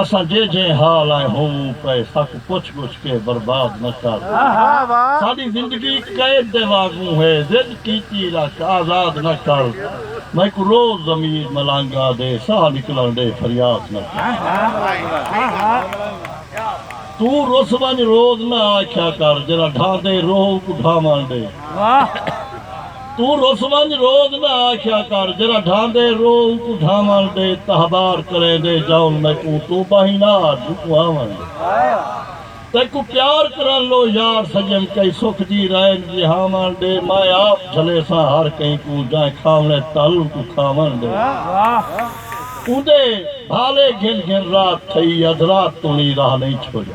اساں جے جے حال آئے ہوووں پئے سک پچھ گچھ کے برباد نہ کر ساڈی زندگی قید دے واگوں ہے ضد کیتی رکھ آزاد نہ کر میکوں روز ضمیر ملانگا دے ساہ نکلن ڈے فریاد نہ کر توں رس ونج روز نہ آکھیا کر جیرھا ڈھاندے روہ اونکوں ڈھاون ڈے۔ توں رس ونج روز نہ آکھیا کر جیرھا ڈھاندے رو اونکوں ڈھاون ڈے تہبار کریندے جاون میکوں توں باہیں نہ آ جوکوں آون ڈے تیکوں پیار کرن لو یار سجن کئی سکھ دی رین جیہاون ڈے مائیں آپ جھلیساں ہر کہیں کوں جائیں کھاونے تل اونکوں کھاون ڈے اوندے بھالے گھن گھن رات تھئی ادھ رات توں نی راہ نہیں چھوڑیا۔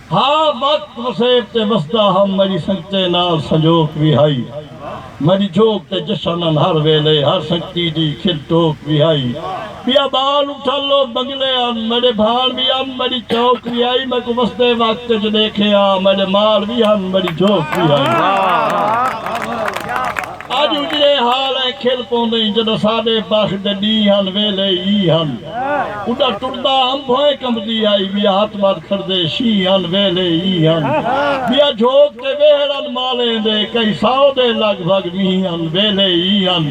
ہا بت وسیب تے وسدا ہم مری سنگتیں نال سنجوک وی ہائی مری جھوک تے جشنن ہر ویلے ہر سنگتی دی کھل ٹوک وی ہائی بیا بال اٹھل لوک بنگلے ان میڈے بھان وی ان مری چوک وی ہائی میکوں وسدے وقت اچ ڈیکھے آ میڈے مال وی ہن مری جھوک وی ہائی اڄ اجڑے حال ائیں کھل پوندئیں جݙاں ساݙے بخت دے ݙینہہ ہن ویلھے ای ہن اݙاں ٹردا انبھ ائیں کمبدی آئی ٻیا ہتھ ٻدھ کھڑدے شینہہ ہن ویلھے ای ہن ٻیا جھوک تے وہڑ ہن مالیں دے کئی سو دے لڳ بھڳ مینہہ ہن ویلھے ای ہن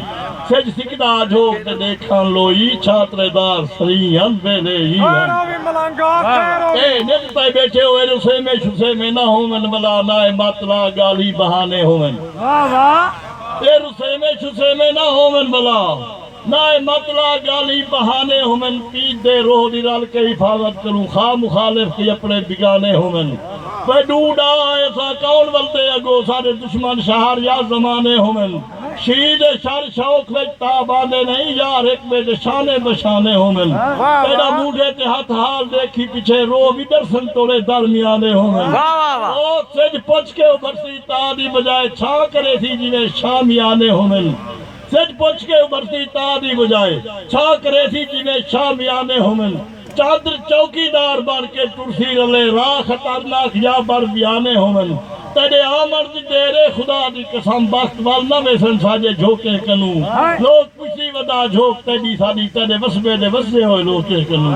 سجھ سکدا جھوک تے ݙیکھن لو ای چھاترے دار سرینہہ ہن ویلھے ای ہن اے نت پئے ٻیٹھے ہوئن اسیمے شسیمے نہ ہوون ولا نائے مت لا ڳالھی بہانے ہوون۔ واہ واہ اے رسیمے شسیمے نہ ہوون بلا نہ اے مت لا گالھیں بہانے ہوون پیر دے روح دی رل کے حفاظت کروں خواہ مخالف دی اپنے بیگانے ہوون وے ڈو ڈا ایساں کون ولدے اگو ساڈے دشمن شہر یا زمانے ہوون شیعہ دے شر شوق وچ تاب آندے نہیں یار ہک بے دے شانے بشانے ہوون تیڈا موڈھے تے ہتھ حال دیکھی پچھے روح وی ڈرسن توڑے در میانے ہوون او سجھ پچھ کے ابھرسی تا دی بجائے چھا کریسی جیویں شام یالے ہوون سج پچھ کے ابھرسی تا دی بجائے چھا کریسی جیویں شام یالے ہوون چادر چوکی دار بن کے ٹرسی رلے راہ خطرناک یا بر بیالے ہوون تیڈے آمن دی دیر اے خدا دی قسم بخت ول نہ ویسن ساجے جھوکیں کنوں لوک پچھسی ودا جھوک تیڈی ساڈی تیڈے وسبے دے وسدے ہوئے لوکیں کنوں۔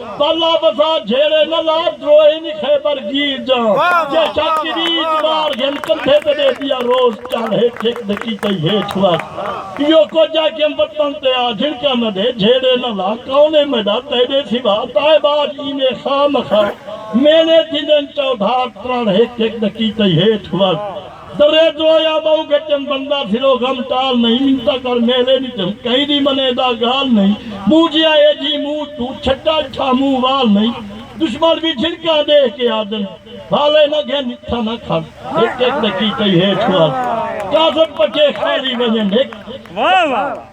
بلا وفا جھیڑے نہ لا دروہے نی خیبر گیر جاں جے شاہ کریج مار گھن کندھے تے ڈے دیا روز چڑھ ہیٹھ ہک دے کیتے ہیٹھ وس ایو کجھ آ کے وطن تے آ جھنکا نہ ڈے جھیڑے نہ لا کون اے میڈا تیڈے سوا تائے باج اینے خواہ مخواہ مینے تھیندن چودھار ترڑ ہیٹھ ہک دے کیتے ہیٹھ وس۔ درے ڈوہیا بہو گچن بندہ پھرو غم ٹال نئیں منتا کر میلے ڈٹھم کہیں دی منے دا گال نئیں موں جیاں اے جھی موں توں چھٹا ڈٹھا موں وال نئیں دشمن وی جھنکاں ڈیکھ کے آدن والے نہ گھن اتھاں نہ کھل ہک ہک ڈکی کئی ہیٹھ وال کاذب پٹے خالی ونجن ہک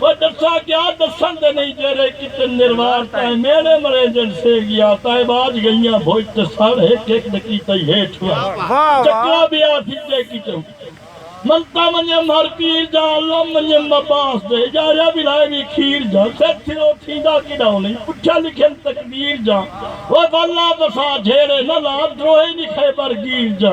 او ڈسا کیا ڈسن دے نئیں جیرے کتن نروار تائیں میڑے مرینجن سینگیاں تائیں باج گئیاں بھوج تے سڑ ہک ہک دے کیتائی ہیٹھ وائیں چکلا بی آ تھی جے کیتائی منتا منیم ہر پیر جا علم منیم مباس دے اجاریا بی لائے وی کھیر جا سر تھرو تھیندا کیڈا او نئیں پچھا لکھن تقدیر جا او واللہ بسا جھیڑے نہ لا دروہے نی خیبر گیر جا۔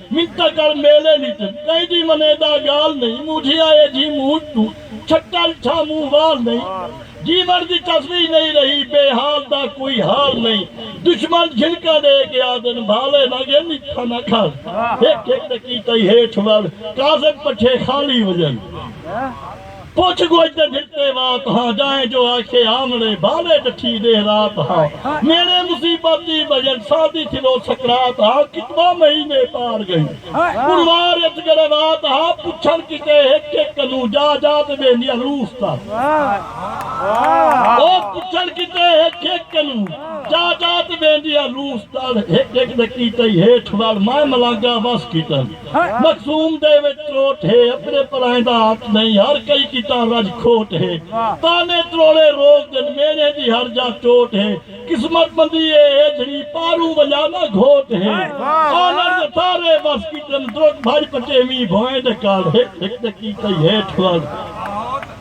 مٹا کر میلے وچ کئیدی منے دا گال نئیں موجھیا اے جی موج توں چھٹل چھا موں وال نئیں جیون دی تصویر نئیں رہی بے حال دا کوئی حال نئیں دشمن جھنکاں ڈے کے آدھن بھالے نہ گے میٹھا نہ کھال ہک ہک دے کیتائی ہیٹھ ول کاذب پٹھے خالی ہوجن۔ پچھ گچھ دے بھرتے وات ہاں جائیں جو آکھے آمڑے بالے ڈٹھی ڈیہہ رات ہاں میڑے مصیبت دی بھجن سادی تھیلو سکرات ہاں کتنا مہینے پار گئی پروار اچ گروات ہاں پچھن کیتے ہک ہک کنوں جا جا تے بیندیاں لوس تر او پچھن کیتے ہک ہک کنوں جا جا تے بیندیاں لوس تر ہک ہک دے کیتے ہیٹھ وال مائے ملانگا وس کیٹن مخزوم دے وچ تروٹ ہے اپنے پرائیں دا حق نئیں ہر کئی کیتا رج کھوٹ ہے طعنے تروڑے روک دن میݨے دی ہر جاہ ٹوٹ ہے قسمت بندی اے ایجھڑی پاروں ونڄا نہ گھوٹ ہے آنڑ دے سارے وس کیتن درک بھڄ پٹیویں بھوئیں ڈکاڑ ہک ہک ڈکی کئی ہیٹھ ول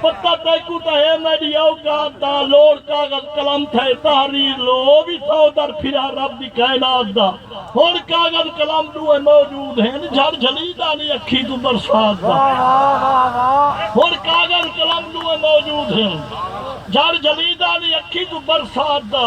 پتہ تیکوں تاں ہے میڈی اوقات دا لوڑ کاغذ قلم تھئے تحریر لو او وی سو در پھرا رب دی کائنات دا ہن کاغذ قلم ڈوہیں موجود ہن جھڑ جھلی دا نی اکھی توں برسات دا ہن کاغذ قلم ڈوہیں موجود ہن جھڑ جھلی دا نی اکھی توں برسات دا۔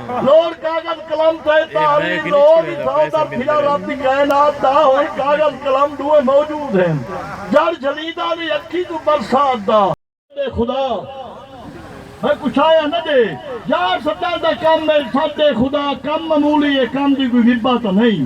لوڑ کاغذ قلم تئیں تحریر لوڑ دی تھاں در پھرا رب دی کائنات دا ہن کاغذ قلم ڈوہیں موجود ہن جڑ جھلیدا نئیں اکھی کوں برسات دا ڈے خدا میں کوں چھایا نہ ڈے یار سداں دا کم اے سد ڈے خدا کم معمولی اے کم دی کوئی وبا تاں نئیں۔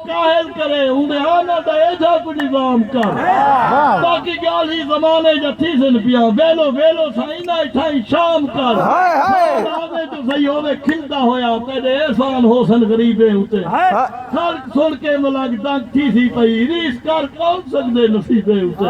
کاہل کرے اوندے آنر دا ایجھا کوئی نظام کر باقی گالھی زمانے جا تھیسن پیاں ویلو ویلو سا انہاں اٹھائیں شام کر سال آوے جو سہی ہووے کھلدا ہویا تیڈے احسان ہوسن غریبیں اتے خلق سن کے ملنگ دنگ تھیسی پئی ریس کر کون سکدے نصیبیں اتے۔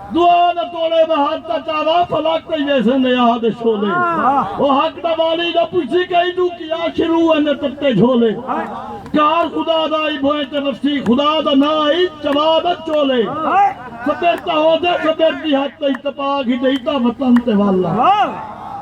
دعا دا توڑے دا حق دا چارہ فلک پئی ویسے نے آہ دے شعلے او حق دا والی دا پچھی کئی دو کیا شروع ہے نے تتے جھولے کار خدا دا ہی بھوئیں تے وسی خدا دا نا ہی چوا دا چولے سبر تاہو دے سبر دی حد تئی تپا گھدئی تا وطن تے والا